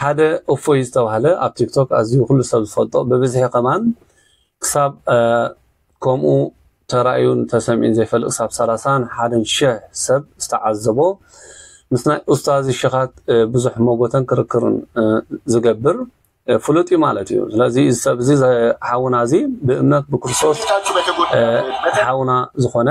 ሓደ እፎይ ዝተባህለ ኣብ ቲክቶክ ኣዝዩ ኩሉ ሰብ ዝፈልጦ ብብዝሒ ከማን ክሳብ ከምኡ ተራእዩን ተሰሚዑን ዘይፈልጥ ክሳብ ሰላሳን ሓደን ሽሕ ሰብ ዝተዓዘቦ ምስ ናይ ኡስታዚ ሽኻት ብዙሕ መጎተን ክርክርን ዝገብር ፍሉጥ እዩ ማለት እዩ ስለዚ እዚ ሰብ እዚ ሓውና እዚ ብእምነት ብክርስቶስ ሓውና ዝኾነ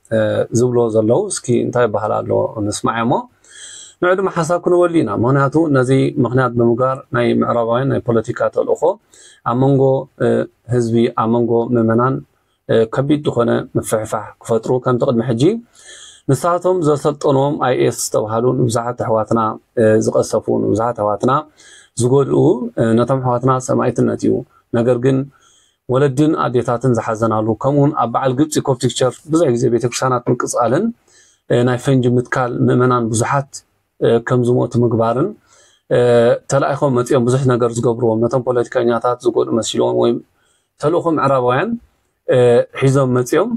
ዝብልዎ ዘለዉ እስኪ እንታይ ይበሃል ኣሎ ንስማዕ እሞ ንዑ ድማ ሓሳብ ክንወሊ ኢና ምክንያቱ ነዚ ምክንያት ብምግባር ናይ ምዕራባውያን ናይ ፖለቲካ ተልእኮ ኣብ መንጎ ህዝቢ ኣብ መንጎ ምእመናን ከቢድ ዝኾነ ምፍሕፋሕ ክፈጥሩ ከምቲ ቅድሚ ሕጂ ንሳቶም ዘሰልጠንዎም ኣይኤስ ዝተብሃሉ ንብዙሓት ኣሕዋትና ዝቀሰፉ ንብዙሓት ኣሕዋትና ዝጎድኡ ነቶም ኣሕዋትና ሰማይትነት እዩ ነገር ግን ወለዲን ኣዴታትን ዝሓዘናሉ ከምኡውን ኣብ በዓል ግብጺ ኮፕቲክ ቸርች ብዙሕ ግዜ ቤተክርስትያናት ምቅጻልን ናይ ፈንጂ ምትካል ምእመናን ብዙሓት ከም ዝሞቱ ምግባርን ተላኢኾም መጺኦም ብዙሕ ነገር ዝገብርዎም ነቶም ፖለቲከኛታት ዝጎድኡ መሲልዎም ወይ ተልእኾ ምዕራባውያን ሒዞም መጺኦም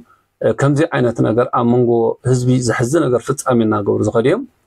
ከምዚ ዓይነት ነገር ኣብ መንጎ ህዝቢ ዘሕዚ ነገር ፍጻሜ እናገብሩ ዝኸዱ እዮም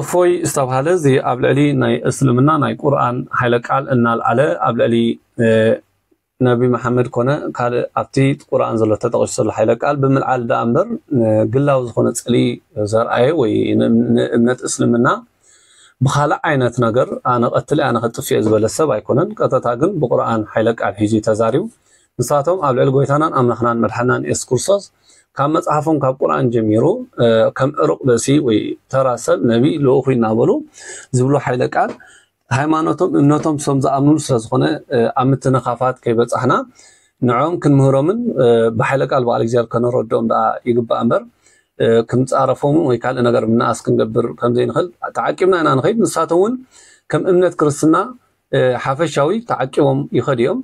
እፎይ ዝተብሃለ እዚ ኣብ ልዕሊ ናይ እስልምና ናይ ቁርኣን ሓይለ ቃል እናልዓለ ኣብ ልዕሊ ነቢ መሓመድ ኮነ ካልእ ኣብቲ ቁርኣን ዘሎ ተጠቂሱ ዘሎ ሓይለ ቃል ብምልዓል ደኣ እምበር ግላዊ ዝኾነ ጽልኢ ዘርኣየ ወይ ንእምነት እስልምና ብኻልእ ዓይነት ነገር ኣነ ቀትል ኣነ ከጥፍእ ዝበለ ሰብ ኣይኮነን። ቀጥታ ግን ብቁርኣን ሓይለ ቃል ሒዙ ተዛሪቡ። ንሳቶም ኣብ ልዕሊ ጎይታናን ኣምላኽናን መድሓንናን የሱስ ክርስቶስ ካብ መጽሓፎም ካብ ቁርኣን ጀሚሩ ከም እሩቕ ብእሲ ወይ ተራ ሰብ ነቢ ልኡኹ እናበሉ ዝብሉ ሓይለ ቃል ሃይማኖቶም እምነቶም ሶም ዝኣምንሉ ስለ ዝኾነ ኣብ ምትንኻፋት ከይበጻሕና ንዕኦም ክንምህሮምን ብሓይለ ቃል በዓል እግዚኣብሔር ከነረድኦም ደኣ ይግባእ እምበር ክንጻረፎም ወይ ካልእ ነገር ምንኣስ ክንገብር ከምዘይንኽእል ተዓቂብና ኢና ንኸይድ ንሳቶም እውን ከም እምነት ክርስትና ሓፈሻዊ ተዓቂቦም ይኸዱ እዮም።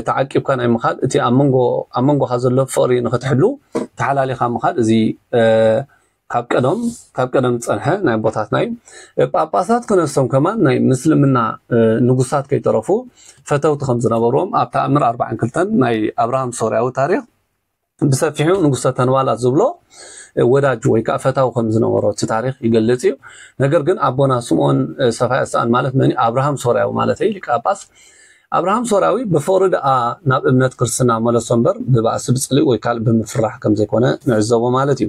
ተዓቂብካ ናይ ምኻድ እቲ ኣብ መንጎ ኣብ መንጎኻ ዘሎ ፍቕሪ ንኽትሕሉ ተሓላሊኻ ምኻድ እዚ ካብ ቀደም ካብ ቀደም ዝፀንሐ ናይ ኣቦታትና እዩ ጳጳሳት ክነሶም ከማን ናይ ምስልምና ንጉሳት ከይተረፉ ፈተውቲ ከም ዝነበርዎም ኣብ ተኣምር ኣርባዕን ክልተን ናይ ኣብርሃም ሶርያዊ ታሪክ ብሰፊሑ ንጉሰ ተንባላት ዝብሎ ወዳጁ ወይ ከዓ ፈታዊ ከም ዝነበሮ እቲ ታሪክ ይገልጽ እዩ። ነገር ግን ኣቦና ስምኦን ሰፋይ ኣስጣን ማለት መን እዩ? ኣብርሃም ሶርያዊ ማለት እዩ ሊቀ ጳጳስ ኣብርሃም ሶርያዊ ብፍቕሪ ደኣ ናብ እምነት ክርስትና መለሶ እምበር ብባእሲ ብጽልኢ ወይ ካልእ ብምፍራሕ ከም ዘይኮነ ንዕዘቦ ማለት እዩ።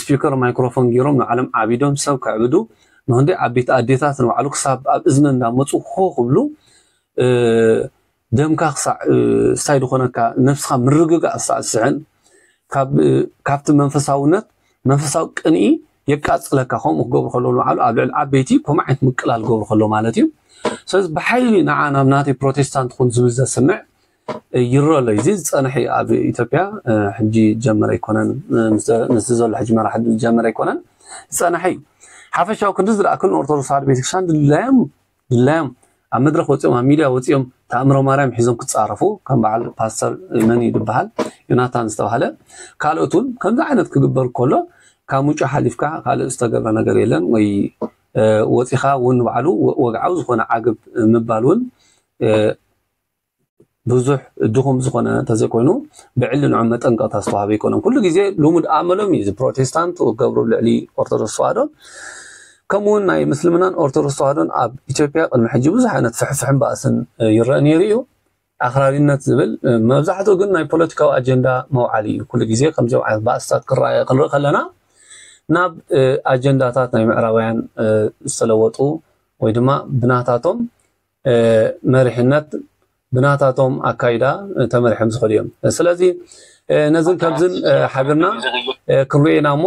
ስፒከር ማይክሮፎን ጌሮም ንባዕሎም ዓቢዶም ሰብ ከዕብዱ ንክንደይ ዓበይቲ ኣዴታት ንባዕሉ ክሳብ ኣብ እዝነን እንዳመጹ ሆ ክብሉ ደምካ ክሳዕ ሳይ ዝኾነካ ነብስኻ ምርግጋእ ክሳዕ ዝስሕን ካብቲ መንፈሳውነት መንፈሳዊ ቅንኢ የቃጽለካ ከምኡ ክገብሩ ከለዉ ንባዕሉ ኣብ ልዕሊ ዓበይቲ ከምኡ ዓይነት ምቅላል ገብሩ ከለዉ ማለት እዩ ስለዚ ብሓይሊ ንዓ ናብ ናተይ ፕሮቴስታንት ኩን ዝብል ዘስምዕ ይሮ ኣሎ እዚ ዝጸንሕ እዩ ኣብ ኢትዮጵያ ሕጂ ጀመረ ኣይኮነን ምስዚ ዘሎ ሕጂ መራሒ ጀመረ ኣይኮነን ዝጸንሐ እዩ ሓፈሻዊ ክንዲ ዝረኣክን ኦርቶዶክስ ተዋህዶ ቤተክርስትያን ድላዮም ድላዮም ኣብ መድረክ ወጺኦም ኣብ ሚድያ ወጺኦም ተኣምሮ ማርያም ሒዞም ክጻረፉ ከም በዓል ፓስተር መን እዩ ዝበሃል ዮናታን ዝተባሃለ ካልኦት እውን ከምዚ ዓይነት ክግበር ከሎ ካብ ምንጩ ሓሊፍካ ካልእ ዝተገብረ ነገር የለን ወይ ወፂኻ እውን ባዕሉ ወግዓዊ ዝኾነ ዓግብ ምባል እውን ብዙሕ ድኹም ዝኾነ እንተዘይኮይኑ ብዕሊ ንዑ መጠንቀቕታ ዝተዋህበ ኣይኮነን። ኩሉ ግዜ ልሙድ ኣመሎም እዩ እዚ ፕሮቴስታንት ዝገብሩ ኣብ ልዕሊ ኦርቶዶክስ ተዋህዶ ከምኡ ውን ናይ ምስልምናን ኦርቶዶክስ ተዋህዶን ኣብ ኢትዮጵያ ቅድሚ ሕጂ ብዙሕ ዓይነት ፍሕፍሕን ባእስን ይረአ ነይሩ እዩ። ኣኽራሪነት ዝብል መብዛሕትኡ ግን ናይ ፖለቲካዊ ኣጀንዳ መውዓሊ እዩ ኩሉ ግዜ ከምዚኦም ዓይነት ባእስታት ክረኣየ ክንርኢ ከለና ናብ ኣጀንዳታት ናይ ምዕራባውያን ዝተለወጡ ወይ ድማ ብናታቶም መሪሕነት ብናታቶም ኣካይዳ ተመሪሖም ዝኸዱ እዮም። ስለዚ ነዝን ከምዝን ሓቢርና ክንሪኦ ኢና እሞ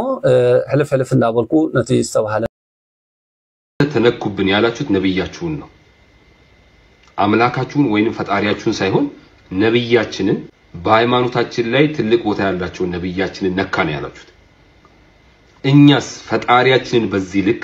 ሕልፍ ሕልፍ እንዳበልኩ ነቲ ዝተባህለ። ተነኩብን ያላችሁት ነብያችሁን ነው አምላካችሁን ወይንም ፈጣሪያችሁን ሳይሆን ነብያችንን በሃይማኖታችን ላይ ትልቅ ቦታ ያላቸውን ነብያችንን ነካ ነው ያላችሁት። እኛስ ፈጣሪያችንን በዚህ ልክ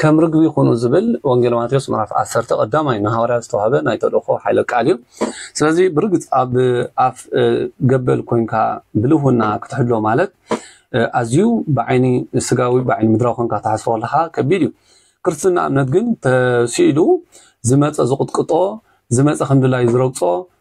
ከም ርግቢ ኩኑ ዝብል ወንጌል ማቴዎስ ምዕራፍ ዓሰርተ ቀዳማይ ንሃዋርያት ዝተዋህበ ናይ ተልእኮ ሓይለ ቃል እዩ። ስለዚ ብርግጽ ኣብ ኣፍ ገበል ኮንካ ብልህውና ክትሕሎ ማለት ኣዝዩ ብዓይኒ ስጋዊ ብዓይኒ ምድራዊ ኮንካ ትሓስቦ ከለካ ከቢድ እዩ። ክርስትና እምነት ግን ተሲኢሉ ዝመጸ ዝቕጥቅጦ ዝመጸ ከምድላዩ ዝረግጾ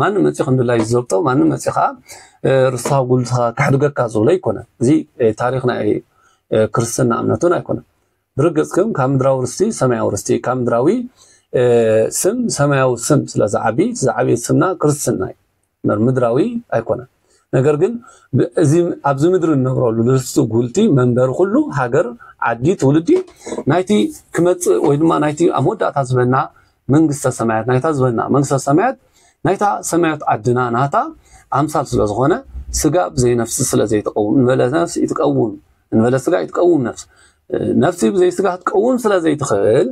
ማንም መፂኡ ከም ድላዩ ዝዘብጦ ማንም መፂኡ ከዓ ርስኻ ጉልትኻ ክሕድገካ ዝብሎ ኣይኮነን እዚ ታሪክ ናይ ክርስትና እምነት እውን ኣይኮነን ብርግፅ ግን ካብ ምድራዊ ርስቲ ሰማያዊ ርስቲ ካብ ምድራዊ ስም ሰማያዊ ስም ስለዝዓቢ ዝዓበየ ስምና ክርስትና እዩ ምድራዊ ኣይኮነን ነገር ግን እዚ ኣብዚ ምድሪ እንነብረሉ ንርስቲ ጉልቲ መንበሪ ኩሉ ሃገር ዓዲ ትውልዲ ናይቲ ክመፅእ ወይ ድማ ናይቲ ኣብ መወዳእታ ዝበና መንግስተ ሰማያት ናይታ ዝበና መንግስተ ሰማያት ናይታ ሰማያት ዓድና ናታ ኣምሳል ስለ ዝኾነ ስጋ ብዘይ ነፍሲ ስለ ዘይትቀውም ንበለ ነፍሲ ይትቀውም ንበለ ስጋ ይትቀውም ነፍሲ ነፍሲ ብዘይ ስጋ ክትቀውም ስለ ዘይትኽእል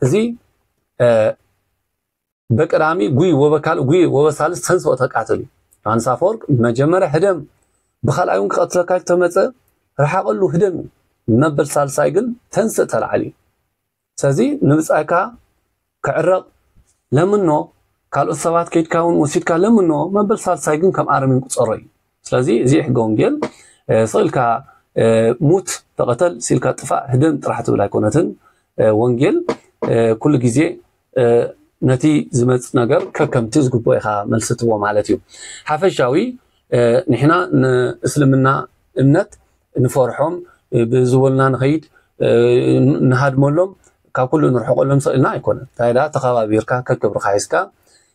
እዚ በቀዳሚ ጉይ ወበካልእ ጉይ ወበሳልስ ተንሥኦ ተቃተሉ ዮሓንስ ኣፈወርቅ መጀመርያ ህደም ብካልኣይ ውን ክቀትለካ ኢሉ ተመጸ ርሓቀሉ ህደም እዩ መበል ሳልሳይ ግን ተንሥእ ተላዕል እዩ ስለዚ ንብጻይካ ክዕረቅ ለምኖ ካልኦት ሰባት ከይድካ ውን ወሲድካ ለምኖ መበል ሳልሳይ ግን ከም ኣረሜን ቁጸሮ እዩ ስለዚ እዚ ሕገ ወንጌል ስቕ ኢልካ ሙት፣ ተቐተል፣ ስቕ ኢልካ ጥፋእ፣ ህደም ጥራሕ ትብል ኣይኮነትን። ወንጌል ኩሉ ግዜ ነቲ ዝመጽእ ነገር ከከምቲ ዝግብኦ ኢኻ መልሲ ትህቦ ማለት እዩ። ሓፈሻዊ ንሕና ንእስልምና እምነት ንፈርሖም ብዝበሉና ንኸይድ ንሃድመሎም ካብ ኩሉ ንርሕቀሎም ስቕ ኢልና ኣይኮነን። እንታይ ደኣ ተኸባቢርካ ከክብርኻ ሒዝካ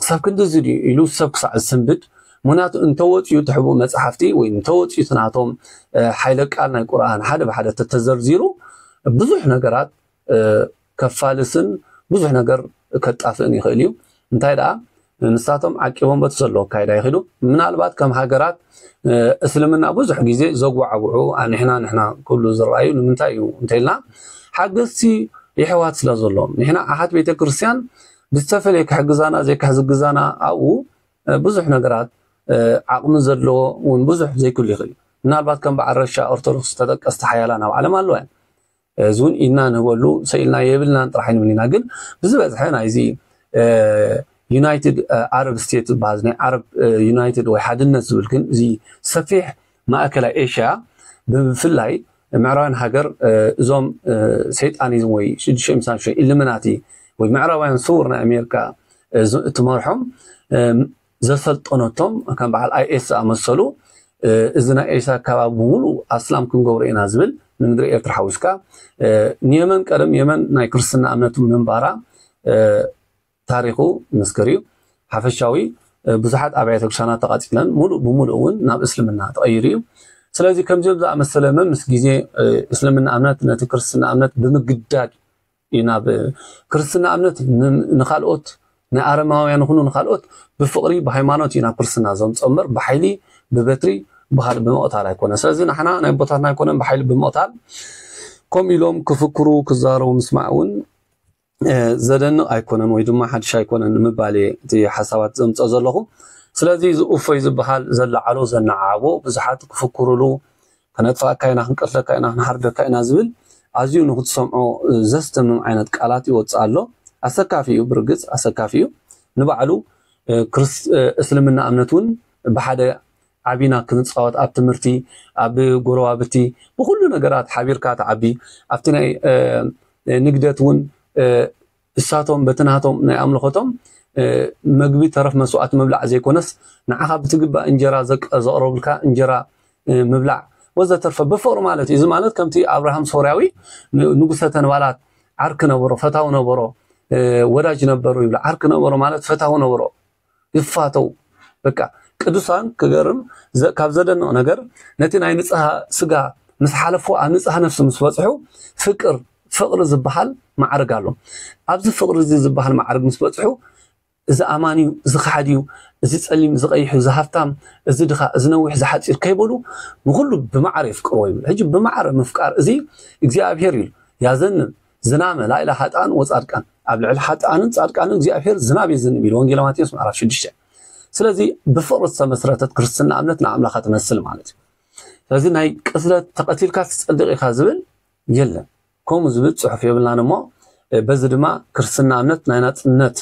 ክሳብ ክንድዚ ድዩ ኢሉ ሰብ ክሳዕ ዝስንብድ ምክንያቱ እንተወፅኡ እቲ ሕቡእ መፅሓፍቲ ወይ እንተወፅኡ እቲ ናቶም ሓይለ ቃል ናይ ቁርኣን ሓደ ብሓደ ተተዘርዚሩ ብዙሕ ነገራት ከፋልስን ብዙሕ ነገር ከጣፍእን ይኽእል እዩ እንታይ ደኣ ንሳቶም ዓቂቦም በቲ ዘለዎ ኣካይዳ ይኽዱ ምናልባት ከም ሃገራት እስልምና ብዙሕ ግዜ ዘጓዕብዑ ኣንሕና ንሕና ክብሉ ዝረኣዩ ንምንታይ እዩ እንተኢልና ሓገዝቲ የሕዋት ስለ ዘሎም ንሕና ኣሓት ቤተ ክርስትያን ብዝተፈለየ ክሕግዛና ዘይክሕዝግዛና ኣብኡ ብዙሕ ነገራት ዓቕሚ ዘለዎ እውን ብዙሕ ዘይክሉ ይኽእል እዩ ምናልባት ከም በዓል ረሻ ኦርቶዶክስ ተጠቀስቲ ሓያላን ኣብ ዓለም ኣለዋ እየን እዚ እውን ኢድና ንህበሉ ሰኢልና የብልናን ጥራሕ ንብል ኢና ግን ብዝበዝሐ ናይዚ ዩናይትድ ዓረብ ስቴት ዝበሃል ናይ ዓረብ ዩናይትድ ወይ ሓድነት ዝብል ግን እዚ ሰፊሕ ማእከላይ ኤሽያ ብፍላይ ምዕራባውያን ሃገር እዞም ሰይጣኒዝም ወይ ሽዱሽተ ሚእቲ ሳንቲም ሽዱሽተ ኢሉሚናቲ ወይ ምዕራባውያን ስውር ናይ ኣሜሪካ እትመርሖም ዘሰልጠነቶም ከም በዓል ኣይኤስ ዝኣመሰሉ እዚ ናይ ኤሳ ኣካባቢ ብምሉእ ኣስላም ክንገብሮ ኢና ዝብል ንምድሪ ኤርትራ ሓዊስካ ንየመን ቀደም የመን ናይ ክርስትና እምነት ምንባራ ታሪኹ ይምስክር እዩ። ሓፈሻዊ ብዙሓት ኣብያተ ክርስቲያናት ተቓጺለን ሙሉእ ብሙሉእ እውን ናብ እስልምና ተቐይሩ እዩ። ስለዚ ከምዚኦም ዝኣመሰለ መምስ ግዜ እስልምና እምነት ነቲ ክርስትና እምነት ብምግዳድ እዩ ናብ ክርስትና እምነት ንካልኦት ናይ ኣረማውያን ይኹኑ ንካልኦት ብፍቕሪ ብሃይማኖት እዩ ናብ ክርስትና ዘምፆ እምበር ብሓይሊ ብበትሪ ብካልእ ብምቕታል ኣይኮነ ስለዚ ንሕና ናይ ቦታትና ኣይኮነን ብሓይሊ ብምቕታል ከምኡ ኢሎም ክፍክሩ ክዛረቡ ምስማዕ እውን ዘደንቅ ኣይኮነን ወይ ድማ ሓድሽ ኣይኮነን ንምባል እየ እቲ ሓሳባት ዘምፀ ዘለኹ። ስለዚ እዚ እፎይ ዝበሃል ዘለዓሎ ዘነዓዓቦ ብዙሓት ክፍክሩሉ ከነጥፍኣካ ኢና፣ ክንቀትለካ ኢና፣ ክንሓርደካ ኢና ዝብል ኣዝዩ ንክትሰምዖ ዘስደምም ዓይነት ቃላት ይወፅእ ኣሎ። ኣሰካፊ እዩ ብርግፅ ኣሰካፊ እዩ ንባዕሉ እስልምና እምነት እውን ብሓደ ዓቢና ክንጻወት ኣብ ትምህርቲ ኣብ ጎረባብቲ ብኹሉ ነገራት ሓቢርካ ትዓቢ ኣብቲ ናይ ንግደት ውን እሳቶም በቲ ናቶም ናይ ኣምልኾቶም መግቢ ተረፍ መስዋእቲ ምብላዕ ዘይኮነስ ንዓኻ ብትግባእ እንጀራ ዘቕረቡልካ እንጀራ ምብላዕ ወዘተርፈ ብፍቕሪ ማለት እዩ እዚ ማለት ከምቲ ኣብርሃም ሶርያዊ ንጉሰ ተንባላት ዓርኪ ነበሮ ፈታዊ ነበሮ ወዳጅ ነበሩ ይብሉ ዓርኪ ነበሮ ማለት ፈታዊ ነበሮ ይፋተው በቃ ቅዱሳን ክገርም ካብ ዘደንቕ ነገር ነቲ ናይ ንጽሃ ስጋ ምስ ሓለፉ ኣብ ንጽሃ ነፍሲ ምስ በጽሑ ፍቅር ፍቕሪ ዝበሃል ማዕርግ ኣሎ ኣብዚ ፍቕሪ እዚ ዝበሃል ማዕርግ ምስ በጽሑ እዚ ኣማን እዩ እዚ ከሓድ እዩ እዚ ጸሊም እዚ ቀይሕ እዩ እዚ ሃብታም እዚ ድኻ እዚ ነዊሕ እዚ ሓጺር ከይበሉ ንኹሉ ብማዕረ የፍቅርዎ ይብል ሕጂ ብማዕረ ምፍቃር እዚ እግዚኣብሄር እዩ ያዘንን ዝናመ ላይለ ሓጥኣን ወጻድቃን ኣብ ልዕሊ ሓጥኣንን ጻድቃንን እግዚኣብሔር ዝናብ የዝንብ ኢሉ ወንጌል ማቴዎስ ምዕራፍ 6 ስለዚ ብፍቕሪ ዝተመስረተት ክርስትና እምነት ንኣምላኻ ትመስል ማለት እዩ ስለዚ ናይ ቅትለት ተቐቲልካ ትጸድቕ ኢኻ ዝብል የለን ከምኡ ዝብል ጽሑፍ የብልናን እሞ በዚ ድማ ክርስትና እምነት ናይ ናጽነት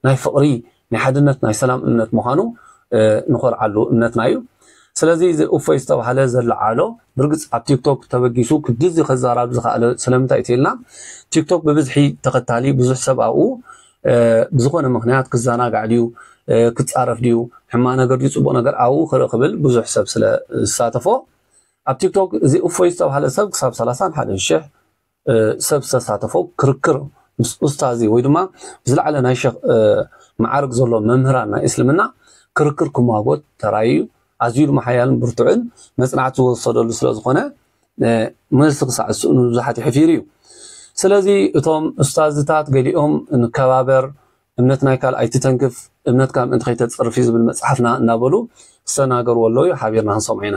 ናይ ፍቕሪ ናይ ሓድነት ናይ ሰላም እምነት ምዃኑ ንኾርዓሉ እምነትና እዩ ስለዚ እዚ እፎይ ዝተባህለ ዘለዓሎ ብርግጽ ኣብ ቲክቶክ ተበጊሱ ክድዚ ክዛራብ ዝኸኣለ ስለምንታይ እትልና ቲክቶክ ብብዝሒ ተኸታሊ ብዙሕ ሰብ ኣብኡ ብዝኾነ ምክንያት ክዘናጋዕ ድዩ ክጻረፍ ድዩ ሕማ ነገር ድዩ ጽቡቕ ነገር ኣብኡ ክርኢ ክብል ብዙሕ ሰብ ስለ ዝሳተፎ ኣብ ቲክቶክ እዚ እፎይ ዝተባህለ ሰብ ክሳብ 31 ሽሕ ሰብ ዝተሳተፎ ክርክር ምስ ኡስታዚ ወይ ድማ ብዝለዓለ ናይ ሸኽ መዓርግ ዘሎ መምህራን ናይ እስልምና ክርክር ክሟጎት ተራእዩ ኣዝዩ ድማ ሓያልን ብርቱዕን መጽናዕቲ ዝወሰደሉ ስለ ዝኾነ መልሲ ክሳዕ ዝስእኑ ንብዙሓት ይሕፊሩ እዩ ስለዚ እቶም ኡስታዝታት ገሊኦም ንከባበር እምነት ናይ ካልእ ኣይትተንክፍ እምነትካ ምእንቲ ከይተጽርፍ እዩ ዝብል መጽሓፍና እናበሉ ዝተናገርዎ ኣለዉ ሓቢርና ክንሰምዖ ኢና።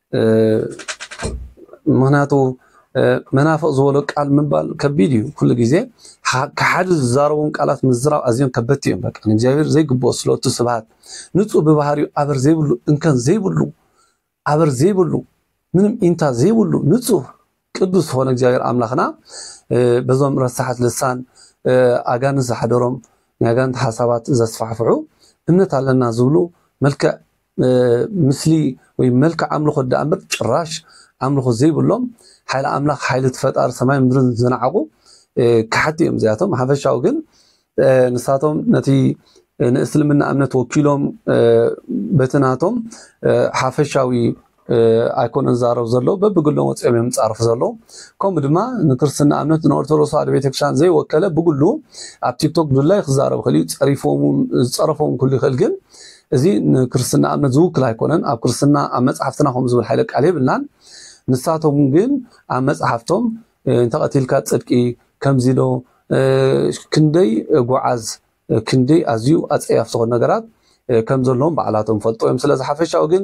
ምክንያቱ መናፍቅ ዝበሎ ቃል ምባል ከቢድ እዩ ኩሉ ግዜ ከሓዲ ዝዛረቦም ቃላት ምዝራብ ኣዝዮም ከበድቲ እዮም በቃ ንእግዚኣብሔር ዘይግብኦ ስለቱ ስብሃት ንጹህ ብባህሪኡ ኣበር ዘይብሉ እንከን ዘይብሉ ኣበር ዘይብሉ ምንም ኢንታ ዘይብሉ ንጹህ ቅዱስ ዝኾነ እግዚኣብሔር ኣምላኽና በዞም ረሳሓት ልሳን ኣጋንንት ዝሓደሮም ናይ ኣጋንንት ሓሳባት ዘስፋሕፍሑ እምነት ኣለና ዝብሉ መልክዕ ምስሊ ወይ መልክዕ ኣምልኾ ዳኣ እምበር ጭራሽ ኣምልኾ ዘይብሎም ሓይሊ ኣምላኽ ሓይሊ ፈጣሪ ሰማይ ምድርን ዝነዓቑ ካሓቲ እዮም እዚኣቶም። ሓፈሻዊ ግን ንሳቶም ነቲ ንእስልምና እምነት ወኪሎም በቲ ናቶም ሓፈሻዊ ኣይኮነን ዝዛረብ ዘሎ በብግሎም ወፂኦም እዮም ፃርፍ ዘሎ ከምኡ ድማ ንክርስትና እምነት ንኦርቶዶክስ ተዋህዶ ቤተክርስትያን ዘይወከለ ብግሉ ኣብ ቲክቶክ ብላይ ክዛረብ ክእል እዩ ፀሪፎም ዝፀረፎም ክሉ ይክእል ግን እዚ ንክርስትና እምነት ዝውክል ኣይኮነን ኣብ ክርስትና ኣብ መፅሓፍትና ከም ዝብል ሓይለ ቃል የብልናን ንሳቶም ግን ኣብ መፅሓፍቶም እንተቐቲልካ ጽድቂ ከምዚ ዶ ክንደይ ጎዓዝ ክንደይ ኣዝዩ ኣጸያፊ ዝኾኑ ነገራት ከም ዘለዎም ባዕላቶም ፈልጦ እዮም ስለዚ ሓፈሻዊ ግን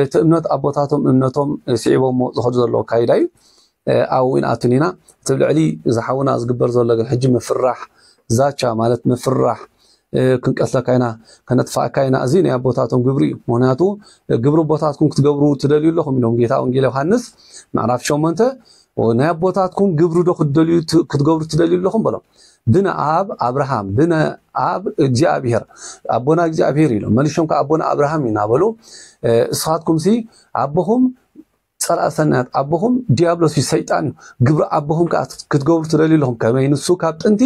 እቲ እምነት ኣቦታቶም እምነቶም ስዒቦሞ ዝኸዱ ዘለዎ ኣካይዳ እዩ ኣብኡ ይንኣቱን ኢና እቲ ልዕሊ ዝሓውና ዝግበር ዘሎ ግን ሕጂ ምፍራሕ ዛቻ ማለት ምፍራሕ ክንቀትለካ ኢና ከነጥፍኣካ ኢና እዚ ናይ ኣቦታቶም ግብሪ እዩ ምክንያቱ ግብሪ ኣቦታትኩም ክትገብሩ ትደልዩ ኣለኹም ኢሎም ጌታ ወንጌል ዮሃንስ ምዕራፍ ሸሞንተ ናይ ኣቦታትኩም ግብሪ ዶ ክትገብሩ ትደልዩ ኣለኹም በሎም ብነ ኣብ ኣብርሃም ብነ ኣብ እግዚኣብሄር ኣቦና እግዚኣብሄር ኢሎም መልሾም ከዓ ኣቦና ኣብርሃም ኢና በሉ እስኻትኩም ሲ ኣቦኹም ጸላእቲ ሰናያት ኣቦኹም ድያብሎስ እዩ፣ ሰይጣን እዩ፣ ግብሪ ኣቦኹም ከኣ ክትገብሩ ትደልዩ ኣለኹም፣ ከመይ ንሱ ካብ ጥንቲ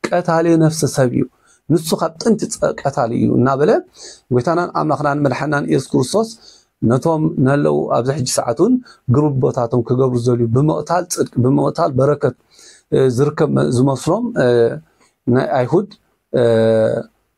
ቀታሊ ነፍሰ ሰብ እዩ፣ ንሱ ካብ ጥንቲ ቀታሊ እዩ እናበለ ጎይታናን ኣምላኽናን መድሓናን ኢየሱስ ክርስቶስ ነቶም ነለው ኣብዚ ሕጂ ሰዓቱን ግብርቦታቶም ክገብሩ ዝደልዩ ብምቕታል ጽድቂ ብምቕታል በረከት ዝርከብ ዝመስሎም ናይ ኣይሁድ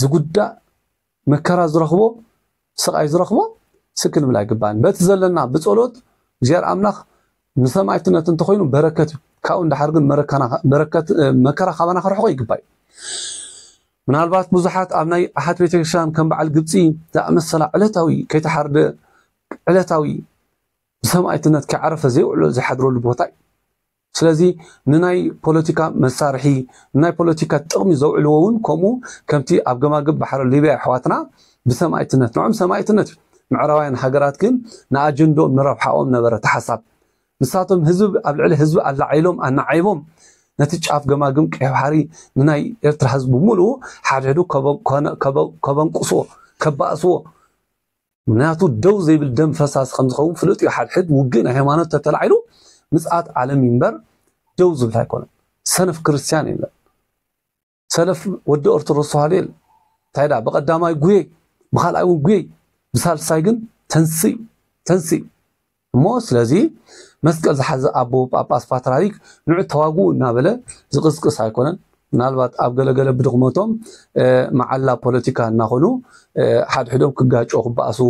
ዝጉዳእ መከራ ዝረኽቦ ስቓይ ዝረኽቦ ስቅ ክንብል ኣይግባእን። በቲ ዘለና ብጸሎት እግዚኣብሔር ኣምላኽ ንሰማዕትነት እንተኾይኑ በረከት እዩ። ካብኡ እንዳሓር ግን መከራ ካባና ክርሕቆ ይግባእ እዩ። ምናልባት ብዙሓት ኣብ ናይ ኣሓት ቤተክርስትያን ከም በዓል ግብፂ ዝኣመሰላ ዕለታዊ ከይተሓርደ ዕለታዊ ብሰማይትነት ከይዓረፈ ዘይውዕሎ ዝሓድረሉ ቦታ እዩ ስለዚ ንናይ ፖለቲካ መሳርሒ፣ ንናይ ፖለቲካ ጥቕሚ ዘውዕልዎ'ውን ከምኡ ከምቲ ኣብ ገማግብ ባሕሪ ሊብያ የሕዋትና ብሰማኢትነት ንዕኦም ሰማኢትነት እዩ። ምዕራባውያን ሃገራት ግን ንኣጀንድኦም ንረብሓኦም ነበረ እቲ ሓሳብ። ንሳቶም ህዝቢ ኣብ ልዕሊ ህዝቢ ኣላዒሎም ኣናዓይቦም ነቲ ጫፍ ገማግም ቀይሕ ባሕሪ ንናይ ኤርትራ ህዝቢ ብምሉኡ ሓድሕዱ ከበንቁስዎ፣ ከባእስዎ፣ ምኽንያቱ ደው ዘይብል ደም ፈሳሲ ከም ዝኸውን ፍሉጥ እዩ። ሓድሕድ ውግእ ናይ ሃይማኖት ተተላዒሉ ምጽኣት ዓለም እዩ እምበር ደው ዝብል ኣይኮነን። ሰነፍ ክርስትያን የለን። ሰለፍ ወዲ ኦርቶዶክስ ተዋህዶ የለን። እንታይ ደኣ ብቐዳማይ ጉየይ፣ ብኻልኣይ እውን ጉየይ፣ ብሳልሳይ ግን ተንስእ እዩ። ተንስእ እዩ። እሞ ስለዚ መስቀል ዝሓዘ ኣቦ ጳጳስ ፓትርያርክ ንዑ ተዋግኡ እናበለ ዝቕስቅስ ኣይኮነን። ምናልባት ኣብ ገለ ገለ ብድኽመቶም መዓላ ፖለቲካ እናኾኑ ሓድሕዶም ክጋጨው ክበኣሱ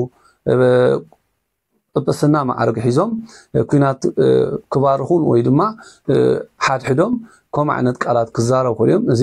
ጵጵስና መዓርግ ሒዞም ኩናት ክባርኹን ወይ ድማ ሓድሕዶም ከምኡ ዓይነት ቃላት ክዛረቡ ይኽእሉ እዮም። እዚ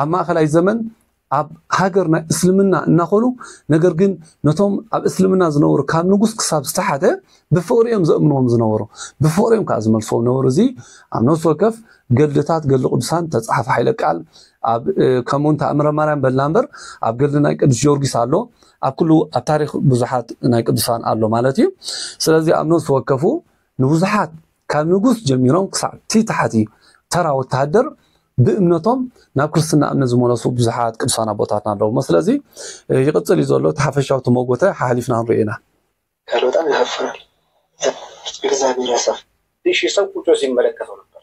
ኣብ ማእከላይ ዘመን ኣብ ሃገር ናይ እስልምና እናኾኑ ነገር ግን ነቶም ኣብ እስልምና ዝነበሩ ካብ ንጉስ ክሳብ ዝተሓተ ብፍቕሪ እዮም ዘእምንዎም ዝነበሩ ብፍቕሪ እዮም ከዓ ዝመልስዎም ነበሩ እዚ ኣብ ነፍሲ ወከፍ ገድልታት ገድሊ ቅዱሳን ተፃሓፈ ሓይለ ቃል ኣብ ከምኡ እንተ እምረ ማርያም በልና እምበር ኣብ ገድሊ ናይ ቅዱስ ጊዮርጊስ ኣሎ ኣብ ኩሉ ኣብ ታሪክ ብዙሓት ናይ ቅዱሳን ኣሎ ማለት እዩ ስለዚ ኣብ ነብሲ ወከፉ ንብዙሓት ካብ ንጉስ ጀሚሮም ክሳዕ እቲ ታሕቲ ተራ ወተሃደር ብእምነቶም ናብ ክርስትና እምነት ዝመለሱ ብዙሓት ቅዱሳን ኣቦታትና ኣለውሞ ስለዚ ይቕፅል እዩ ዘሎ እቲ ሓፈሻዊ ተመጎተ ሓሓሊፍና ክንሪኦ ኢና ቃል በጣም ያሳፍራል እግዚአብሔር ያሳፍ እሺ ሰው ቁጭ ሲመለከተው ነበር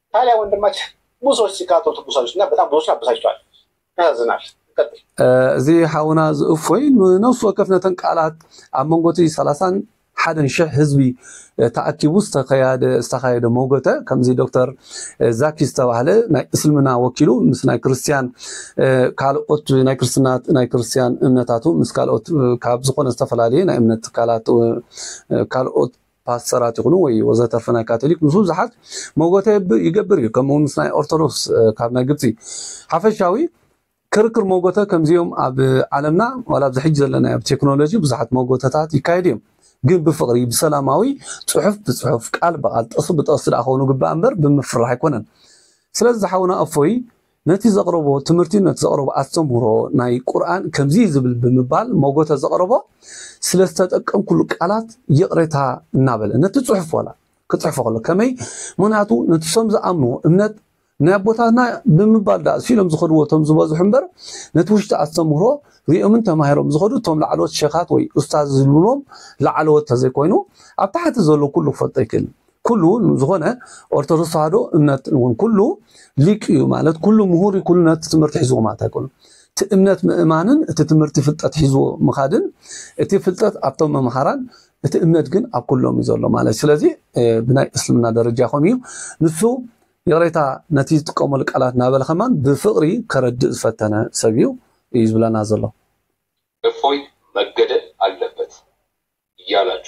ታዲያ ወንድማችን ብዙ ሰዎች ሲቃጠሉ ትኩሳለች እና በጣም ብዙዎችን አበሳጭቷል። ያሳዝናል። ቀጥል። እዚ ሓውና እዚ እፎይ ንነፍሲ ወከፍ ነተን ቃላት ኣብ መንጎ እቲ ሰላሳን ሓደን ሽሕ ህዝቢ እ፣ ተኣኪቡ ዝተኸያደ ዝተኻየደ መውገተ ከምዚ ዶክተር እ፣ ዛኪ ዝተባህለ ናይ እስልምና ወኪሉ ምስ ናይ ክርስትያን እ፣ ካልኦት ናይ ክርስትና ናይ ክርስትያን እምነታቱ ምስ ካልኦት እ፣ ካብ ዝኾነ ዝተፈላለየ ናይ እምነት ትካላት እ፣ ካልኦት ፓስተራት ይኹኑ ወይ ወዘተርፈ ናይ ካቶሊክ ምስ ብዙሓት መጎተ ይገብር እዩ ከምኡ ምስ ናይ ኦርቶዶክስ ካብ ናይ ግብፂ ሓፈሻዊ ክርክር መጎተ ከምዚኦም ኣብ ዓለምና ዋላ ኣብዚ ሕጂ ዘለና ኣብ ቴክኖሎጂ ብዙሓት መጎተታት ይካየዱ እዮም ግን ብፍቕሪ ብሰላማዊ ፅሑፍ ብፅሑፍ ቃል ብቃል ጥቕሲ ብጥቕሲ ደኣ ክኾኑ ግባእ እምበር ብምፍራሕ ኣይኮነን ስለዚ ዝሓውና እፎይ ነቲ ዘቕረቦ ትምህርቲ ነቲ ዘቕረቦ ኣስተምህሮ ናይ ቁርኣን ከምዚ እዩ ዝብል ብምባል ሞጎተ ዘቕረቦ ስለ ዝተጠቀምኩሉ ቃላት ይቕሬታ እናበለ ነቲ ጽሑፍ ዋላ ክጽሕፎ ከሎ ከመይ ምክንያቱ ነቲ ሶም ዝኣምንዎ እምነት ናይ ኣቦታትና ብምባል ዳኣ ሲሎም ዝኸድዎ እቶም ዝበዝሑ እምበር ነቲ ውሽጢ ኣስተምህሮ ሪኦምን ተማሂሮም ዝኸዱ እቶም ላዕለዎት ሸኻት ወይ ኡስታዝ ዝብልዎም ላዕለዎት ተዘይኮይኑ ኣብ ታሕቲ ዘሎ ኩሉ ክፈልጦ ኣይክእልን ኩሉ ንዝኾነ ኦርቶዶክስ ተዋህዶ እምነት እውን ኩሉ ሊቅ እዩ ማለት ኩሉ ምሁር ኩሉ ነቲ ትምህርቲ ሒዝዎ ማለት ኣይኮኑን። እቲ እምነት ምእማንን እቲ ትምህርቲ ፍልጠት ሒዝዎ ምኻድን እቲ ፍልጠት ኣብቶም መምሃራን እቲ እምነት ግን ኣብ ኩሎም እዩ ዘሎ ማለት እዩ። ስለዚ ብናይ እስልምና ደረጃ ከምኡ እዩ። ንሱ ይቕሬታ ነቲ ዝጥቀመሉ ቃላት እናበለ ከማን ብፍቕሪ ከረድእ ዝፈተነ ሰብ እዩ እዩ ዝብለና ዘሎ። እፎይ መገደል ኣለበት እያላቹ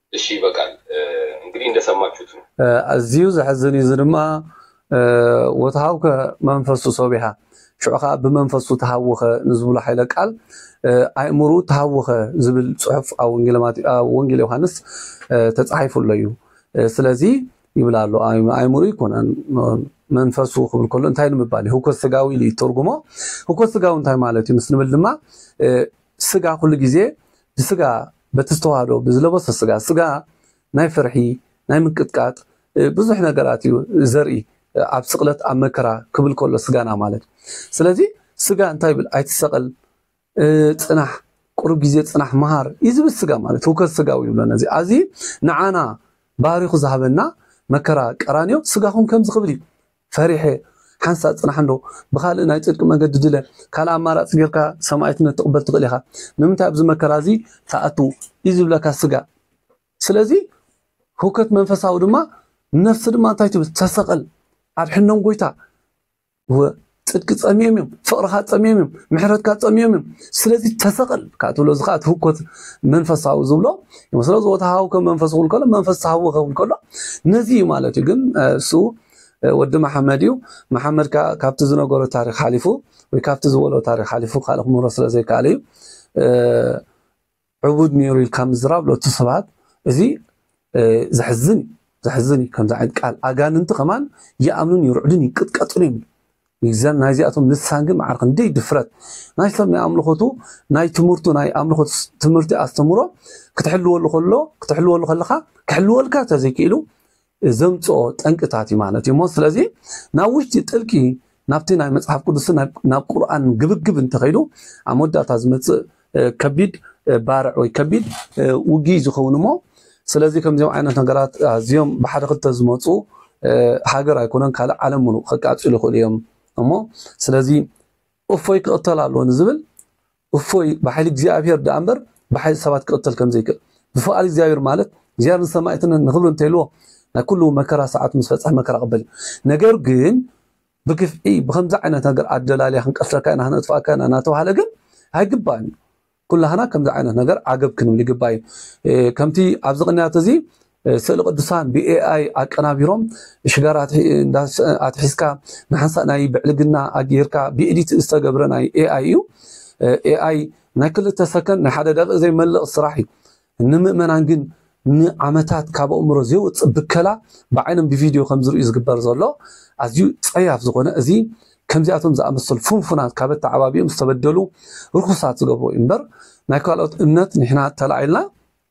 እሺ ይበቃል እንግዲህ እንደሰማችሁት ነው። ኣዝዩ ዘሕዝን እዩ እዚ ድማ ወተሃውከ መንፈሱ ሶቢሃ ሽዑ ከዓ ብመንፈሱ ተሃወኸ ንዝብሎ ሓይለ ቃል ኣእምርኡ ተሃወኸ ዝብል ፅሑፍ ኣብ ወንጌል ዮሃንስ ተፃሒፉ ኣሎ እዩ ስለዚ ይብል ኣሎ ኣእምርኡ ይኮነን መንፈሱ ክብል ከሎ እንታይ ንምባል እዩ ህውከት ስጋዊ ኢሉ ይተርጉሞ ህውከት ስጋዊ እንታይ ማለት እዩ ምስ ንብል ድማ ስጋ ኩሉ ግዜ ብስጋ በቲ ዝተዋህዶ ብዝለበሶ ስጋ ስጋ ናይ ፍርሒ ናይ ምንቅጥቃጥ ብዙሕ ነገራት እዩ ዘርኢ ኣብ ስቕለት ኣብ መከራ ክብል ከሎ ስጋና ማለት ስለዚ ስጋ እንታይ ይብል ኣይትሰቐል ፅናሕ ቁሩብ ግዜ ፅናሕ መሃር እዩ ዝብል ስጋ ማለት ህውከት ስጋዊ ይብሎ ነዚ ኣዚ ንዓና ባህሪኹ ዝሃበና መከራ ቀራንዮ ስጋኹም ከምዚ ክብል እዩ ፈሪሐ ሓንሳእ ጽናሕ እንዶ ብኻልእ ናይ ጽድቂ መገዲ ድለ። ካልእ ኣማራጺ ጌርካ ሰማእትነት ትቕበል ትኽእል ኢኻ። ንምንታይ ኣብዚ መከራ እዚ ትኣቱ እዩ ዝብለካ ስጋ። ስለዚ ህውከት መንፈሳዊ ድማ ነፍሲ ድማ እንታይ ትብል ተሰቐል ኣድሕኖም ጎይታ እወ ጽድቂ ጸሚዮም እዮም ፍቕርኻ ጸሚዮም እዮም ምሕረትካ ጸሚዮም እዮም ስለዚ ተሰቐል ከዓ ትብሎ እዚ ከዓ ትህኮት መንፈሳዊ ዝብሎ ስለዚ ወተሃውከ መንፈስ ክብል ከሎ መንፈስ ተሃወኸ ክብል ከሎ ነዚ እዩ ማለት እዩ ግን እሱ ወዲ መሓመድ እዩ። መሓመድ ከኣ ካብቲ ዝነገሮ ታሪኽ ሓሊፉ ወይ ካብቲ ዝበሎ ታሪኽ ሓሊፉ ካልእ ክምህሮ ስለ ዘይከኣለ እዩ ዕቡድ ነይሩ ኢልካ ምዝራብ ሎቱ ስብሃት እዚ ዘሕዝን እዩ። ዘሕዝን እዩ ከምዚ ዓይነት ቃል ኣጋንንቲ ከማን ይኣምኑን ይርዕዱን ይንቅጥቀጡን እዮም። ይዘን ናይ ዚኣቶም ልሳን ግን መዓር ክንደይ ድፍረት ናይ ሰብ ናይ ኣምልኾቱ ናይ ትምህርቱ ናይ ኣምልኾ ትምህርቲ ኣስተምሮ ክትሕልወሉ ከሎ ክትሕልወሉ ከለኻ ክሕልወልካ ተዘይክኢሉ ዘምጽኦ ጠንቅታት እዩ ማለት እዩ እሞ ስለዚ ናብ ውሽጢ ጥልቂ ናብቲ ናይ መጽሓፍ ቅዱስ ናብ ቁርኣን ግብግብ እንተኸይዱ ኣብ መወዳእታ ዝመጽእ ከቢድ ባርዕ ወይ ከቢድ ውግኢ ዝኸውን እሞ ስለዚ ከምዚኦም ዓይነት ነገራት ኣዝዮም ብሓደ ክልተ ዝመፁ ሃገር ኣይኮነን ካልእ ዓለም ሙሉእ ከቃፅሉ ይኽእሉ እዮም እሞ ስለዚ እፎይ ክቕተል ኣለዎ ንዝብል እፎይ ብሓይሊ እግዚኣብሄር ደኣ እምበር ብሓይሊ ሰባት ክቕተል ከም ዘይክእል ብፍቓድ እግዚኣብሄር ማለት እግዚኣብሄር ንሰማእትነት ንኽብሪ እንተይልዎ ናይ ኩሉ መከራ ሰዓቱ ምስ በጽሐ መከራ ቅበል እዩ ነገር ግን ብግፍዒ ብከምዚ ዓይነት ነገር ኣደላልያ ክንቀትለካ ኢና ክነጥፍኣካ ኢና እናተባህለ ግን ኣይግባእን እዩ ኩላህና ከምዚ ዓይነት ነገር ዓገብ ክንብል ይግባእ እዩ ከምቲ ኣብዚ ቅንያት እዚ ስእሊ ቅዱሳን ብኤኣይ ኣቀናቢሮም ሽጋራ ኣትሒዝካ ንሓንሳእ ናይ ብዕልግና ኣጌርካ ብኤዲት ዝተገብረ ናይ ኤኣይ እዩ። ኤኣይ ናይ ክልተ ሰከንድ ናይ ሓደ ደቂቕ ዘይመልቕ ስራሕ እዩ። ንምእመናን ግን ንዓመታት ካብ ኣእምሮ ዘይወፅእ ብከላ ብዓይኖም ብቪድዮ ከምዝርእዩ ዝግበር ዘሎ ኣዝዩ ፀያፍ ዝኾነ እዚ ከምዚኣቶም ዝኣመሰሉ ፍንፉናት ካብ ኣተዓባቢኦም ዝተበደሉ ርኹሳት ዝገብርዎ እዩ እምበር ናይ ካልኦት እምነት ንሕና ተላዒልና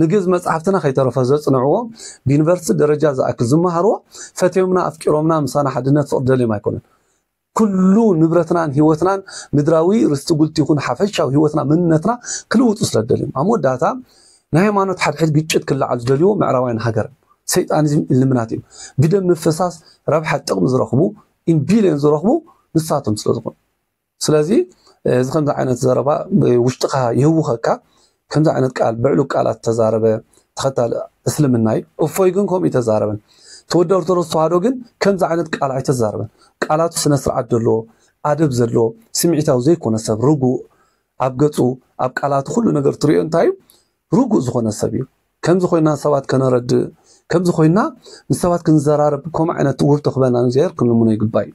ንግእዝ መጻሕፍትና ከይተረፈ ዘጽንዕዎ፣ ብዩኒቨርሲቲ ደረጃ ዝኣክል ዝመሃርዎ፣ ፈትዮምና ኣፍቂሮምና ምሳና ሓድነት ፍቕሪ ደልዮም ኣይኮኑን። ኩሉ ንብረትናን ህይወትናን ምድራዊ ርስቲ ጉልት ይኹን ሓፈሻዊ ህይወትና መንነትና ክልውጡ ስለ ዝደልዮም። ኣብ መወዳእታ ናይ ሃይማኖት ሓድሕድ ግጭት ክለዓል ዝደልዩዎ ምዕራባውያን ሃገርን ሰይጣኒዝም ኢልምናት እዮም። ብደም ምፍሳስ ረብሓ ጥቕሚ ዝረኽቡ ኢን ቢልዮን ዝረኽቡ ንሳቶም ስለ ዝኾኑ። ስለዚ እዚ ከምዚ ዓይነት ዘረባ ውሽጥኻ ይህውኸካ ከምዚ ዓይነት ቃል ብዕሉ ቃላት ተዛረበ ተኸታሊ እስልምና እዩ እፎይ ግን ከምኡ ተዛረበን ተወዲ ኦርቶዶክስ ተዋህዶ ግን ከምዚ ዓይነት ቃል ኣይተዛረበን ቃላቱ ስነ ስርዓት ዘለዎ ኣደብ ዘለዎ ስምዒታዊ ዘይኮነ ሰብ ርጉእ ኣብ ገጹ ኣብ ቃላቱ ኩሉ ነገር ትሪኦ እንታይ እዩ ርጉእ ዝኾነ ሰብ እዩ ከምዚ ኮይና ሰባት ከነረድእ ከምዚ ኮይና ንሰባት ክንዘራረብ ከምኡ ዓይነት ውህብቶ ክበና እግዚኣብሔር ክንልምኖ ይግባእ እዩ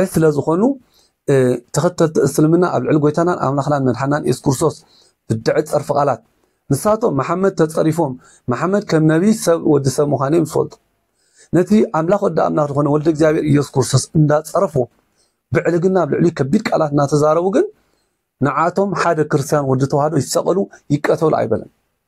ዒት ስለ ዝኾኑ ተኸተልቲ እስልምና ኣብ ልዕሊ ጎይታናን ኣምላኽናን መድሓናን ኢየሱስ ክርስቶስ ብድዐ ጸርፊ ቃላት ንሳቶም መሓመድ ተጸሪፎም መሓመድ ከም ነቢይ ሰብ ወዲ ሰብ ምዃኑ እዮም ዝፈልጡ ነቲ ኣምላኽ ወዲ ኣምላኽ ዝኾነ ወልደ እግዚኣብሔር ኢየሱስ ክርስቶስ እንዳጸረፉ ብዕልግና ኣብ ልዕሊ ከቢድ ቃላት እናተዛረቡ ግን ንዓቶም ሓደ ክርስቲያን ወዲ ተዋህዶ ይሰቐሉ ይቀተሉ ኣይበለን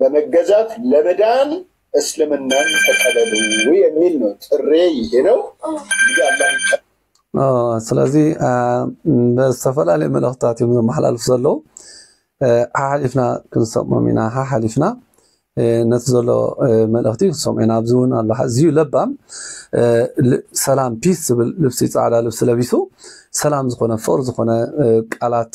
በመገዛት ለመዳን እስልምናን ተቀበሉ የሚል ነው ጥሬ ይሄ ነው። ስለዚ ብዝተፈላለዩ መልእክታት እዮም ዘመሓላልፉ ዘለዉ ሓሓሊፍና ክንሰምዖም ኢና ሓሓሊፍና ነቲ ዘሎ መልእክቲ ክንሰምዖ ኢና ኣብዚ እውን ኣሎ ኣዝዩ ለባም ሰላም ፒስ ዝብል ልብሲ ፃዕዳ ልብሲ ለቢሱ ሰላም ዝኾነ ፍቅሪ ዝኾነ ቃላት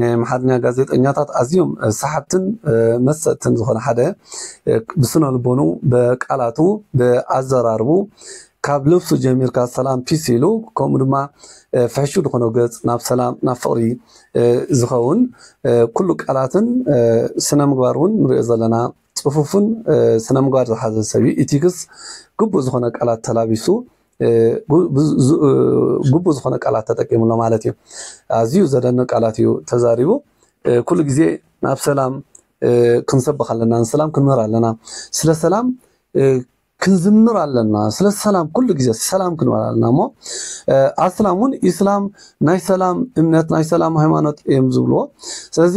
ናይ ኣምሓርኛ ጋዜጠኛታት ኣዝዮም ሰሓብትን መሰጥትን ዝኾነ ሓደ ብስነ ልቦኑ ብቃላቱ ብኣዘራርቡ ካብ ልብሱ ጀሚርካ ሰላም ፒስ ኢሉ ከምኡ ድማ ፍሕሹ ዝኾነ ገጽ ናብ ሰላም ናብ ፍቕሪ ዝኸውን ኩሉ ቃላትን ስነ ምግባር እውን ንሪኦ ዘለና ፅፉፍን ስነ ምግባር ዝሓዘ ሰብ እዩ ኢቲክስ ግቡእ ዝኾነ ቃላት ተላቢሱ ግቡእ ዝኾነ ቃላት ተጠቂሙ ኣሎ ማለት እዩ። ኣዝዩ ዘደንቅ ቃላት እዩ ተዛሪቡ። ኩሉ ግዜ ናብ ሰላም ክንሰብኽ ኣለና፣ ንሰላም ክንምህር ኣለና፣ ስለ ሰላም ክንዝምር ኣለና፣ ስለ ሰላም ኩሉ ግዜ ሰላም ክንበል ኣለና እሞ ኣስላም እውን ኢስላም ናይ ሰላም እምነት ናይ ሰላም ሃይማኖት እዮም ዝብልዎ። ስለዚ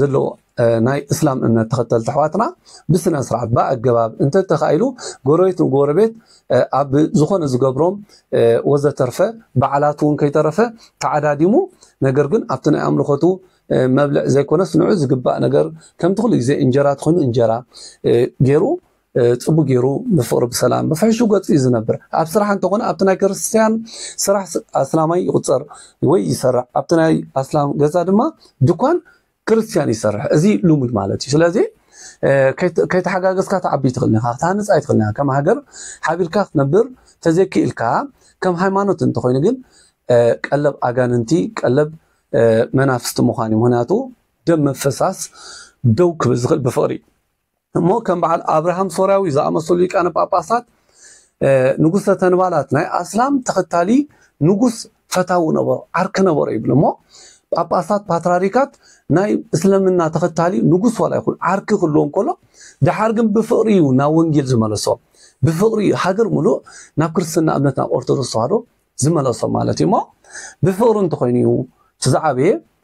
ዘለዎ ናይ እስላም እምነት ተኸተልቲ ኣሕዋትና ብስነ ስርዓት ብኣገባብ እንተተኻኢሉ ጎረቤት ንጎረቤት ኣብ ዝኾነ ዝገብሮም ወዘተርፈ በዓላት እውን ከይተረፈ ተዓዳዲሙ ነገር ግን ኣብቲ ናይ ኣምልኾቱ መብልዕ ዘይኮነስ ንዑ ዝግባእ ነገር ከምቲ ኩሉ ግዜ እንጀራ ትኾይኑ እንጀራ ገይሩ ጽቡቅ ጌሩ ብፍቅሪ ብሰላም ብፍሕሹ ገጹ እዩ ዝነብር ኣብ ስራሕ እንተኾነ ኣብቲ ናይ ክርስትያን ስራሕ ኣስላማይ ይቁጸር ወይ ይሰርሕ ኣብቲ ናይ ኣስላም ገዛ ድማ ድኳን ክርስትያን ይሰርሕ እዚ ልሙድ ማለት እዩ ስለዚ ከይተሓጋገዝካ ትዓቢ ትኽእል ኢኻ ክትሃንፅ ኣይትኽእል ኢኻ ከም ሃገር ሓቢርካ ክትነብር ተዘይክኢልካ ከም ሃይማኖት እንተኾይኑ ግን ቀለብ ኣጋንንቲ ቀለብ መናፍስቲ ምዃን እዩ ምክንያቱ ደም መፈሳስ ደው ክብል ዝኽእል ብፍቅሪ እዩ እሞ ከም በዓል ኣብርሃም ሶርያዊ ዝኣመሰሉ ሊቃነ ጳጳሳት ንጉሰ ተንባላት ናይ ኣስላም ተኸታሊ ንጉስ ፈታዊ ነበሩ ዓርኪ ነበሩ ይብሉ እሞ ጳጳሳት ፓትራሪካት ናይ እስልምና ተኸታሊ ንጉስ ዋላ ይኹን ዓርኪ ክህልዎም ከሎ ድሓር ግን ብፍቕሪ እዩ ናብ ወንጌል ዝመለሶም ብፍቕሪ እዩ ሃገር ሙሉእ ናብ ክርስትና እምነት ናብ ኦርቶዶክስ ተዋህዶ ዝመለሶም ማለት እዩ እሞ ብፍቕሪ እንተኾይኑ እዩ እቲ ዝዓበየ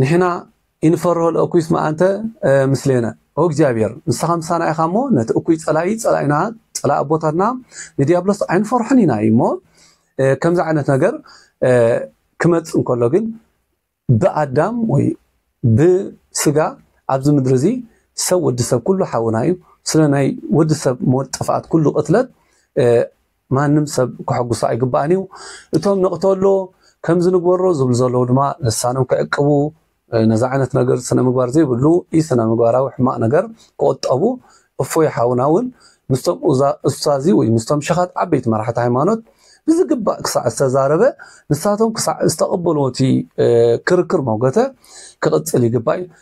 ንሕና ኢንፈርሆ ለእኩይስ መኣንተ ምስሌነ ኦ እግዚኣብሔር ንስኻ ምሳና ኢኻ እሞ ነቲ እኩይ ጸላኢ ጸላኢና ጸላኢ ኣቦታትና ንዲያብሎስ ኣይንፈርሖን ኢና እዩ እሞ ከምዚ ዓይነት ነገር ክመጽእ እንከሎ ግን ብኣዳም ወይ ብስጋ ኣብዚ ምድሪ እዚ ሰብ ወዲ ሰብ ኩሉ ሓውና እዩ ስለ ናይ ወዲ ሰብ ሞት ጥፍኣት ኩሉ ቅትለት ማንም ሰብ ከሐጉሶ ኣይግባእን እዩ። እቶም ንቕተሎ፣ ከምዚ ንግበሮ ዝብሉ ዘለዉ ድማ ልሳኖም ክዕቅቡ፣ ነዚ ዓይነት ነገር ስነምግባር ዘይብሉ ኢ-ስነምግባራዊ ሕማቕ ነገር ክቑጠቡ፣ እፎይ ሓውና ውን ምስቶም ኡስታዚ ወይ ምስቶም ሸኻት ዓበይቲ መራሕቲ ሃይማኖት ብዝግባእ ክሳዕ ዝተዛረበ ንሳቶም ክሳዕ ዝተቐበልዎ እቲ ክርክር ሞገተ ክቕጽል ይግባእ።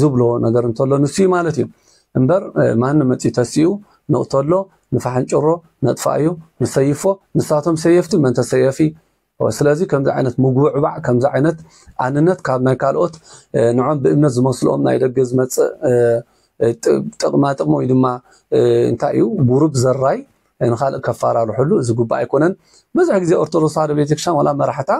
ዝብሎ ነገር እንተሎ ንሱ እዩ ማለት እዩ እምበር ማንም መፂኡ ተሲኡ ንቕተሎ ንፋሕንጭሮ ነጥፋኣዮ ንሰይፎ ንሳቶም ሰየፍቲ መን ተሰየፊ ስለዚ ከምዚ ዓይነት ምጉብዕባዕ ከምዚ ዓይነት ኣንነት ካብ ናይ ካልኦት ንዖም ብእምነት ዝመስልኦም ናይ ደገ ዝመፅእ ጥቕማ ጥቕሚ ወይ ድማ እንታይ እዩ ጉሩብ ዘራይ ንኻልእ ከፋራርሕሉ ዝግባእ ኣይኮነን ብዙሕ ግዜ ኦርቶዶክስ ተዋህዶ ቤተክርስትያን ዋላ መራሕታ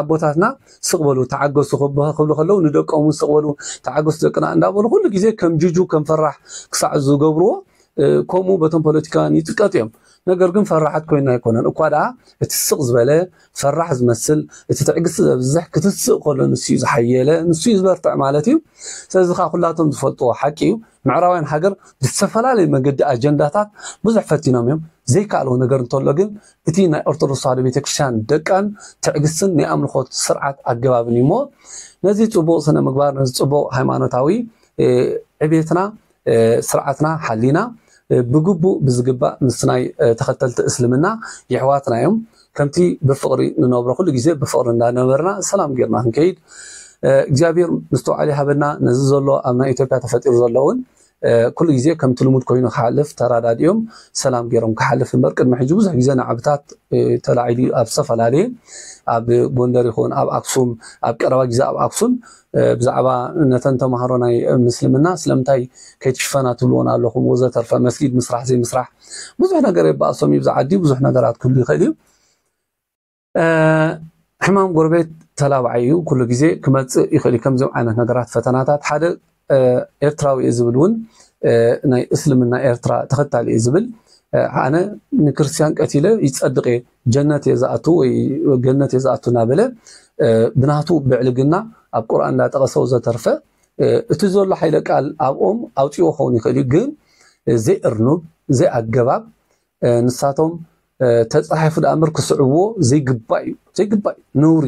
ኣቦታትና ስቕ በሉ ተዓገሱ ክብሉ ከለዉ ንደቆም እውን ስቕ በሉ ተዓገሱ ደቅና እንዳበሉ ኩሉ ግዜ ከም ጅጁ ከም ፈራሕ ክሳዕ ዝገብርዎ ከምኡ በቶም ፖለቲካውያን ይጥቀጡ እዮም ነገር ግን ፈራሓት ኮይና ኣይኮነን እኳ ደኣ እቲ ስቕ ዝበለ ፈራሕ ዝመስል እቲ ትዕግስቲ ዘብዝሕ ክትስእ ከሎ ንሱዩ ዝሓየለ ንሱዩ ዝበርትዕ ማለት እዩ ስለዚ ከኣ ኩላቶም ዝፈልጥዎ ሓቂ እዩ ምዕራባውያን ሃገር ብዝተፈላለየ መገዲ ኣጀንዳታት ብዙሕ ፈቲኖም እዮም ዘይከኣልዎ ነገር እንተሎ ግን እቲ ናይ ኦርቶዶክስ ተዋህዶ ቤተክርስትያን ደቃን ትዕግስትን ናይ ኣምልኾት ስርዓት ኣገባብን እዩ እሞ ነዚ ጽቡቕ ስነ ምግባር ነዚ ጽቡቕ ሃይማኖታዊ ዕቤትና ስርዓትና ሓሊና ብግቡእ ብዝግባእ ምስ ናይ ተኸተልቲ እስልምና የሕዋትና እዮም ከምቲ ብፍቕሪ ንነብሮ ኩሉ ግዜ ብፍቕሪ እንዳነበርና ሰላም ጌርና ክንከይድ እግዚኣብሔር ምስትውዓል ይሃበና ነዚ ዘሎ ኣብ ናይ ኢትዮጵያ ተፈጢሩ ዘሎ እውን ኩሉ ግዜ ከምቲ ልሙድ ኮይኑ ክሓልፍ ተራዳዲኦም ሰላም ገይሮም ክሓልፍ እምበር ቅድሚ ሕጂ ብዙሕ ግዜ ንዓብታት ተላዒሉ ኣብ ዝተፈላለየ ኣብ ጎንደር ይኹን ኣብ ኣክሱም ኣብ ቀረባ ግዜ ኣብ ኣክሱም ብዛዕባ ነተን ተማሃሮ ናይ ምስልምና ስለምንታይ ከይትሽፈና ትብልወን ኣለኹም ወዘተርፈ መስጊድ ምስራሕ ዘይምስራሕ ብዙሕ ነገር የባእሶም እዩ ብዛ ዓዲ ብዙሕ ነገራት ክህሉ ይኽእል እዩ ሕማም ጎረቤት ተላባዓይ እዩ ኩሉ ግዜ ክመፅእ ይኽእል እዩ ከምዚኦም ዓይነት ነገራት ፈተናታት ሓደ ኤርትራዊ እዩ ዝብል እውን ናይ እስልምና ኤርትራ ተኸታሊ እዩ ዝብል ኣነ ንክርስትያን ቀቲለ ይፀድቕ እየ ጀነት እየ ዝኣቱ ወይ ገነት እየ ዝኣቱ እናበለ ብናቱ ብዕልግና ኣብ ቁርኣን እንዳጠቐሰው ዘተርፈ እቲ ዘሎ ሓይለ ቃል ኣብኦም ኣውፅዎ ክኸውን ይኽእል እዩ ግን ዘይእርኑብ ዘይኣገባብ ንሳቶም ተፃሒፉ ዳኣ እምበር ክስዕብዎ ዘይግባእ እዩ ዘይግባእ እዩ ነውሪ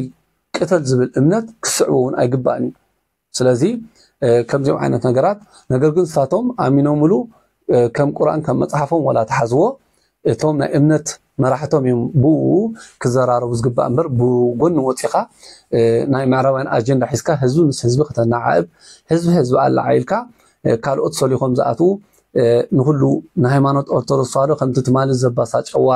ቅተል ዝብል እምነት ክስዕቦ እውን ኣይግባእን እዩ ስለዚ ከምዚኦም ዓይነት ነገራት ነገር ግን ንሳቶም ኣሚኖምሉ ከም ቁርን ከም መጽሓፎም ዋላ ተሓዝዎ እቶም ናይ እምነት መራሕቶም እዮም ብኡ ክዘራረቡ ዝግባእ እምበር ብጎኒ ወፂኻ ናይ ምዕራባውያን ኣጀንዳ ሒዝካ ህዝቢ ምስ ህዝቢ ከተናዓእብ ህዝቢ ህዝቢ ኣለዓኢልካ ካልኦት ሰሊኾም ዝኣትዉ ንኹሉ ንሃይማኖት ኦርቶዶክስ ተዋህዶ ከምቲ ትማሊ ዘባሳጨዋ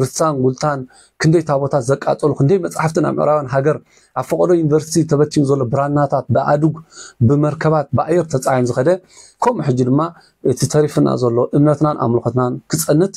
ርትሳን ጉልታን ክንደይ ታቦታት ዘቃጸሉ ክንደይ መጻሕፍቲ ናብ ምዕራባን ሃገር ኣብ ፈቐዶ ዩኒቨርሲቲ ተበቲኑ ዘሎ ብራናታት ብኣእዱግ ብመርከባት ብኣየር ተጻዒኑ ዝኸደ ከምኡ ሕጂ ድማ እቲ ተሪፍና ዘሎ እምነትናን ኣምልኾትናን ክጸንት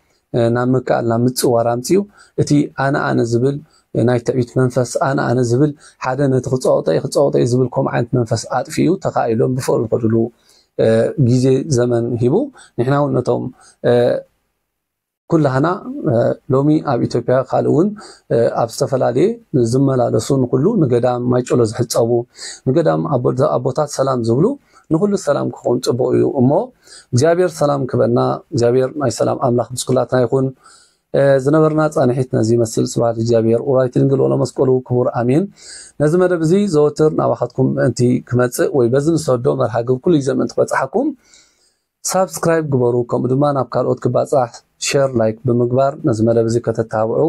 ናብ ምክኣል ናብ ምጽዋር ኣምጺኡ እቲ ኣነ ኣነ ዝብል ናይ ትዕቢት መንፈስ ኣነ ኣነ ዝብል ሓደ ነቲ ክጸወጦ እየ ክጸወጦ እየ ዝብል ከምኡ ዓይነት መንፈስ ኣጥፊኡ ተኻኢሎም ብፍቕሪ ዝኸድሉ ግዜ ዘመን ሂቡ ንሕና እውን ነቶም ኩላህና ሎሚ ኣብ ኢትዮጵያ ካልእ እውን ኣብ ዝተፈላለየ ዝመላለሱ ንኩሉ ንገዳም ማይጨሎ ዝሕፀቡ ንገዳም ኣቦታት ሰላም ዝብሉ ንኩሉ ሰላም ክኸውን ፅቡቅ እዩ እሞ እግዚኣብሔር ሰላም ክበና እግዚኣብሔር ናይ ሰላም ኣምላክ ምስ ኩላትና ይኹን። ዝነበርና ጻንሒት ነዚ ይመስል። ስብሐት እግዚኣብሔር ወላዲተ ድንግል ወለመስቀሉ ክቡር ኣሜን። ነዚ መደብ እዚ ዘወትር ናባኻትኩም ምእንቲ ክመጽእ ወይ በዚ ንሰዶ መርሃ ግብር ኩሉ ግዜ ምእንቲ ክበጽሓኩም ሳብስክራይብ ግበሩ። ከምኡ ድማ ናብ ካልኦት ክባጻሕ ሼር ላይክ ብምግባር ነዚ መደብ እዚ ከተተባብዑ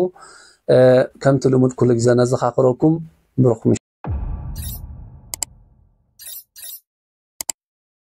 ከምቲ ልሙድ ኩሉ ግዜ ነዘኻኽረኩም ብሩኽ